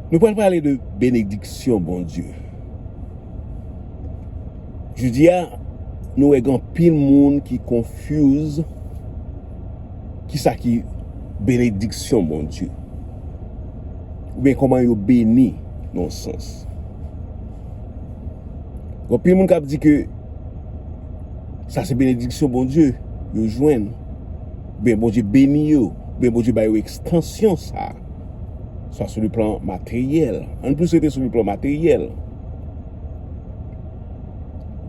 Nou pral pale de benediksyon Bondye. Jodi a, nou wè gen anpil moun ki konfuz ki sa ki benediksyon Bondye. Ou byen koman yo beni nan sens. Gen anpil moun kap di ke sa se benediksyon Bondye yo jwenn. Oubyen Bondye beni yo, oubyen Bondye ba yo ekstansyon sa a. Sa sou le plan materyèl. An plis rete sou le plan materyèl.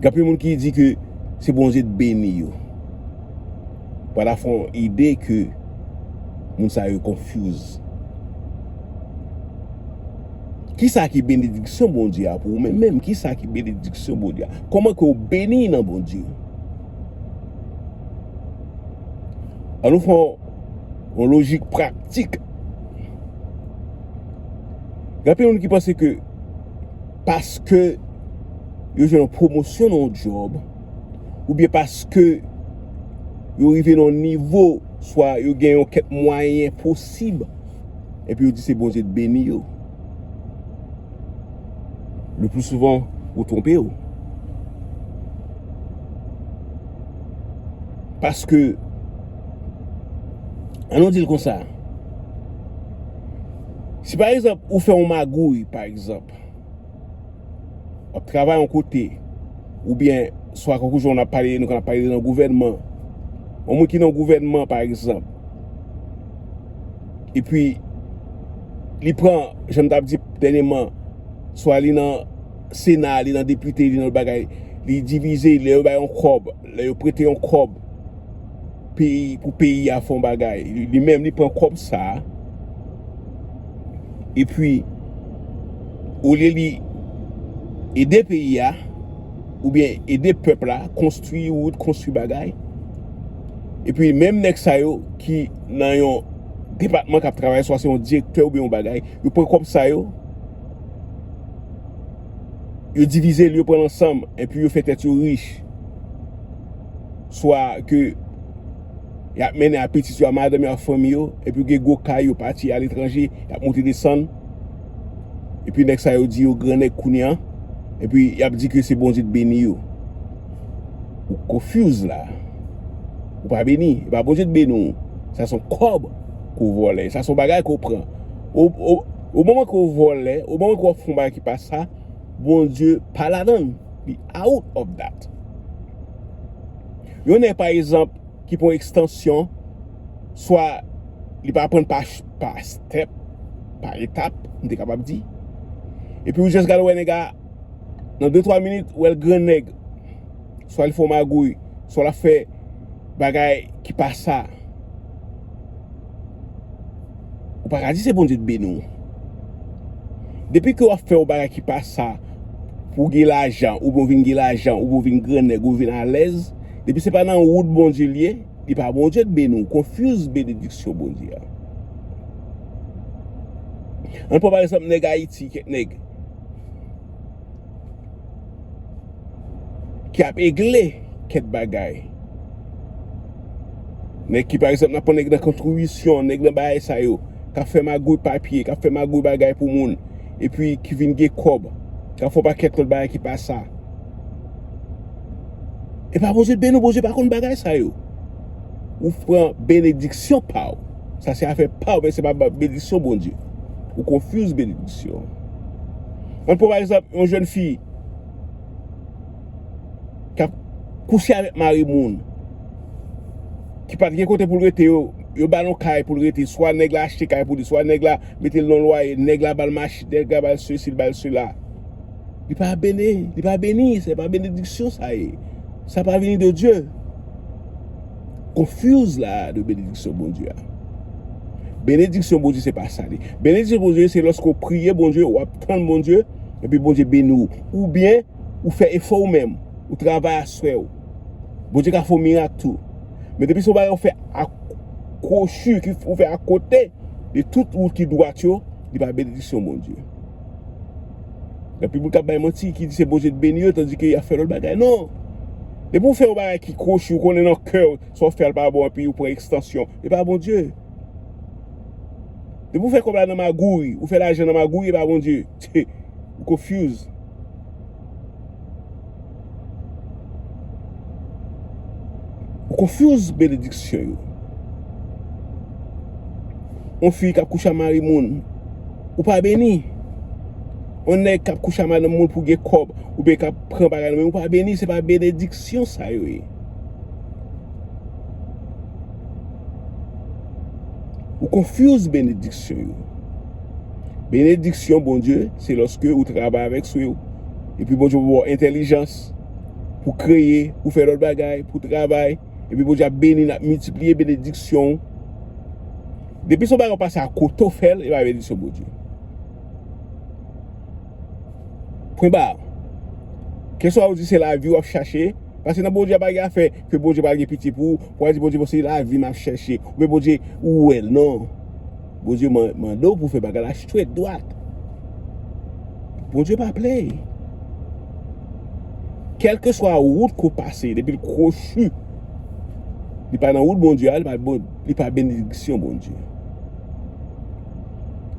Gapi moun ki di ke se Bondye t beni yo. Pa ta fon ide ke moun sa yo konfyouz. Ki sa ki benediksyon Bondye a pou ou menm menm? Ki sa ki benediksyon Bondye a? Koman ke ou beni nan Bondye? An nou fè yon lojik pratik. Gen anpil moun ki panse ke paske yo jwenn yon pwomosyon nan yon djòb, oubyen paske yo rive nan yon nivo, swa yo gen yon kèk mwayen posib, epi yo di se Bondye k beni yo. Le plus souvent ou twonpe ou. Paske, an nou dil konsa, si pa egzanp ou fè yon magouy pa egzanp, Wap travay yon kote ou byen swa konkou joun ap pale nou kan ap pale de nan gouvènman. Yon moun ki nan gouvènman pa egzanp. E pi li pran jan m tap di dènyeman swa li nan sena, li nan depite, li nan l bagay, li divize, li lè yo bay yon kòb. Lè yo prete yon kòb peyi pou peyi a fè yon bagay, li menm li pran kòb sa a epi olye li ede peyi a oubyen ede pèp la konstwi wout, konstwi bagay epi menm nèg sa yo ki nan yon depatman k ap travay swa se yon direktè oubyen yon bagay, yo pran kòb sa yo yo divize l yo pran l ansanm epi yo fè tèt yo rich. swa ke y ap mennen a pitit yo, a madanm yo, a fanmi yo, epi ou gen gwo kay yo pati a letranje, y ap monte desann, epi nèg sa yo di yo gran nèg kounye an, epi y ap di ke se Bondye ki beni yo. Ou confuse la. Ou pa beni. E pa Bondye ki beni w. Sa son kòb ke w vòlè. Sa son bagay ke w pran. O moman ke w vòlè, o moman ke w ap fè yon bagay ki pa sa, Bondye pa ladan l. Li out of dat. Yon nèg pa ezanp ki pran ekstansyon, swa li pa aprann pa pa step, pa etap, m te kapab di. Epi ou jès gad wè nèg a, nan de twa minit ou wè l grannèg. Swa li fè w magouy, swa l ap fè. Bagay ki pa sa. Ou pa ka di se Bondye t beni w. Depi ke wap fè yon bagay ki pa sa pou gen lajan oubyen ou vin gen lajan oubyen ou vin gran nèg ou vin alèz depi se pa nan wout Bondye l ye li pa Bondye t beni w confuse benediksyon Bondye a. Ann pran pa egzanp nèg Ayiti kèk nèg. Ki ap egle kèk bagay. Nèg ki pa egzanp nan pran nèg nan kontribisyon, nèg nan bagay sa yo. K ap fè magouy papye, k ap fè magouy bagay pou moun. E pi ki vin gen kòb. K ap fè yon pakèt lòt bagay ki pa sa. E pa Bondye beni w, Bondye pa konn bagay sa yo. Ou pran benediksyon pa w. Sa se afè paw men se pa benediksyon Bondye. Ou confuse benediksyon. An pran pa egzanp yon jèn fi kap kouche avèk mari moun ki pat gen kote poul rete yo, yo bal yon kay poul rete swa nèg la achte kay pou li swa nèg la metel nan lwaye, nèg la bal machin, nèg la bal sesi, li bal sela. Li pa beni, li pa beni, se pa benediksyon sa ye. Sa pa vini de Dye. Confuse la de benediksyon Bondye a. Benediksyon Bondye se pa sa li. Benediksyon Bondye se lòske ou priye Bondye, ou ap tann Bondye, epi Bondye beni ou. Ou byen, ou fè efò ou menm, ou travay aswè ou. Bondye ka fè yon mirak tou. Men depi se yon bagay ou fè ak kwochi, ou fè akote de tout wout ki dwat yo, li pa benediksyon Bondye. Gen anpil moun kap bay manti ki di se Bondye t beni yo tandi ke yap fè lòt bagay non Depi ou fè yon bagay ki kwochi ou konnen nan kè ou sa ou fè a pa bon epi ou pran ekstansyon e pa Bondye Depi ou fè kòb la nan magouy ou fè lajan nan magouy e pa Bondye Ou confuse. Ou confuse benediksyon yo. Yon fi kap kouche a mari moun. Ou pa beni. Yon nèg kap kouche a madanm moun pou gen kòb. Ou byen kap pran bagay nan men. Ou pa beni. Se pa benediksyon sa yo ye. Ou confuse benediksyon yo. Benediksyon Bondye se lòske ou travay avèk sou yo. Epi Bondye pou baw entèlijans pou kreye, pou fè lòt bagay, pou travay, epi Bondye ap beni nap miltipliye benediksyon ou. Depi son bagay ou pase a kote ou fèl epa benediksyon Bondye. Pwen ba. Keswa ou di se lavi wap chache, pase nan Bondye pa gen afè ke Bondye pa gen pitye pou ou, pou a di Bondye bon se lavi map chache, ou be Bondye ou wèl non. Bondye mande w pou fè bagay la strèt dwat. Bondye pa play. Kèlke swa wout ke w pase, depi l kwochi, li pa nan wout Bondye a, li pa benediksyon Bondye.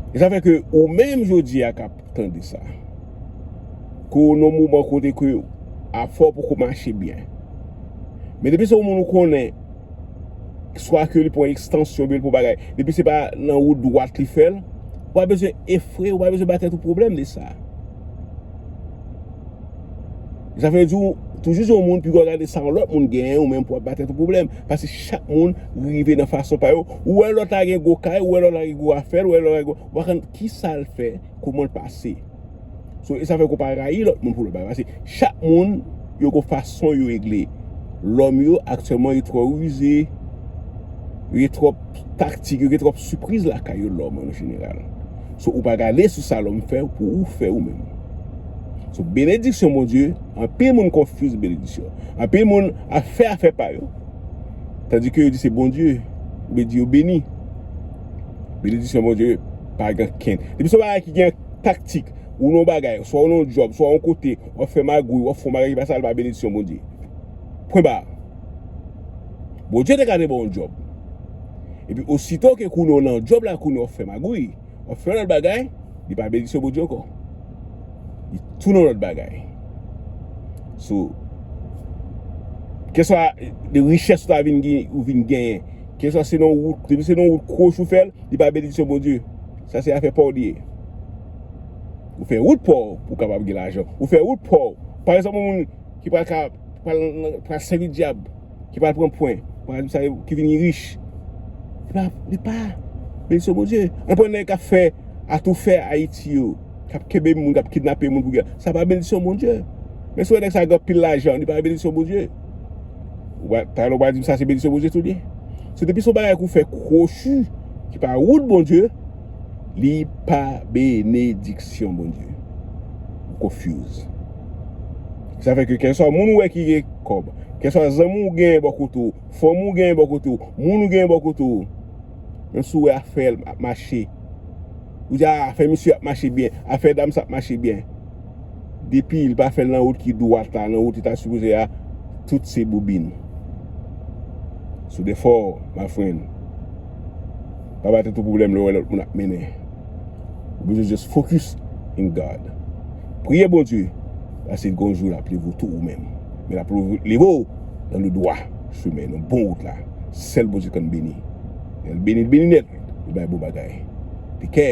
E sa fè ke ou menm jodi a kap tande sa. Ke w nan moman kote ke afè w poko mache byen. Men depi se yon moun ou konnen. swa ke li pran ekstansyon bil pou bagay, depi se pa nan wout dwat li fèl, ou pa bezwen efrew, ou pa bezwen bay tèt ou pwoblèm de sa. Sa vle di ou toujou se yon moun pi gwa gade sa yon lòt moun gen ou menm pou ap bay tèt ou pwoblèm, pase chak moun rive nan fason pa yo, ou wè lòt la gen gwo kay, ou wè lòt la gen gwo afèl, ou wè lòt la gen gwo, ou pa konn ki sal fè, koumanl pase. So e sa fè ke w pa rayi lòt moun pou lòt bagay. Pase chak moun yo gen yon fason yo regle. Lòm yo aktyèlman yo twò rize, yo gen twòp taktik, yo gen twòp sipriz lakay yo lòm an jeneral. So ou pa gade sou sa lòm fè pou ou fè ou menm. So benediksyon Bondye, anpil moun konfuse benediksyon. Anpil moun ap fè afè pa yo. Tandi ke yo di se Bondye, yo di yo beni. Benediksyon Bondye pa gen ken. Depi se yon bagay ki gen. taktik, ou nan yon bagay, swa ou nan yon djòb, swa ou yon kote, wap fè magouy, wap fè yon bagay ki pa sa, li pa benediksyon Bondye. Pwen ba. Bondye te ka te ba w yon djòb. Epi osito ke kounye ou nan djòb la, kounye ou wap fè magouy, wap fè yon lòt bagay, li pa benediksyon Bondye ankò. Li tou nan lòt bagay. So, keswa de richès ou ta vin genyen, keswa se nan yon wout, depi se nan yon wout kwoch ou fèl, li pa benediksyon Bondye. Sa se afè paw li ye. Ou fè wout paw pou kapab gen lajan. Ou fè wout paw. Pa egzanp yon moun ki pral ka pral sèvi dyab, ki pral pran pwen, ki vini rich. Li pa benediksyon Bondye. An pwen nèg kap fè atoufè Ayiti yo, kap kenbe moun, kap kidnape moun pou gè. Sa pa benediksyon Bondye. Men si w wè nèg sa gen anpil lajan, li pa benediksyon Bondye. Ou pa ta lou pa di m sa se benediksyon Bondye tou li ye. Se depi son bagay kou fè kwochi ki pa wout Bondye li pa benediksyon Bondye. Ou konfuse. Sa fè ke kèlsa moun ou wè ki gen kòb, kèlsa zanmi ou gen bò kote ou, fanmi ou gen bò kote ou, moun ou gen bò kote ou, menm si ou wè afè l ap mache, ou di a afè misye ap mache byen, afè dam sa ap mache byen. Depi li pa fèl nan wout ki dwat la, nan wout li ta sipoze a, tout se boubin. Sou defo w my friend. Pa bay tèt ou pwoblèm lè w wè lòt moun ap mennen. Ou bezwen just focus in God. Priye Bondye, paske gon jou lap leve w tou ou menm. Men lap leve w nan le dwa chemen, nan bon wout la. Sèl Bondye k konn beni. Lè l beni, l beni nèt. Li bay bon bagay. Te kè!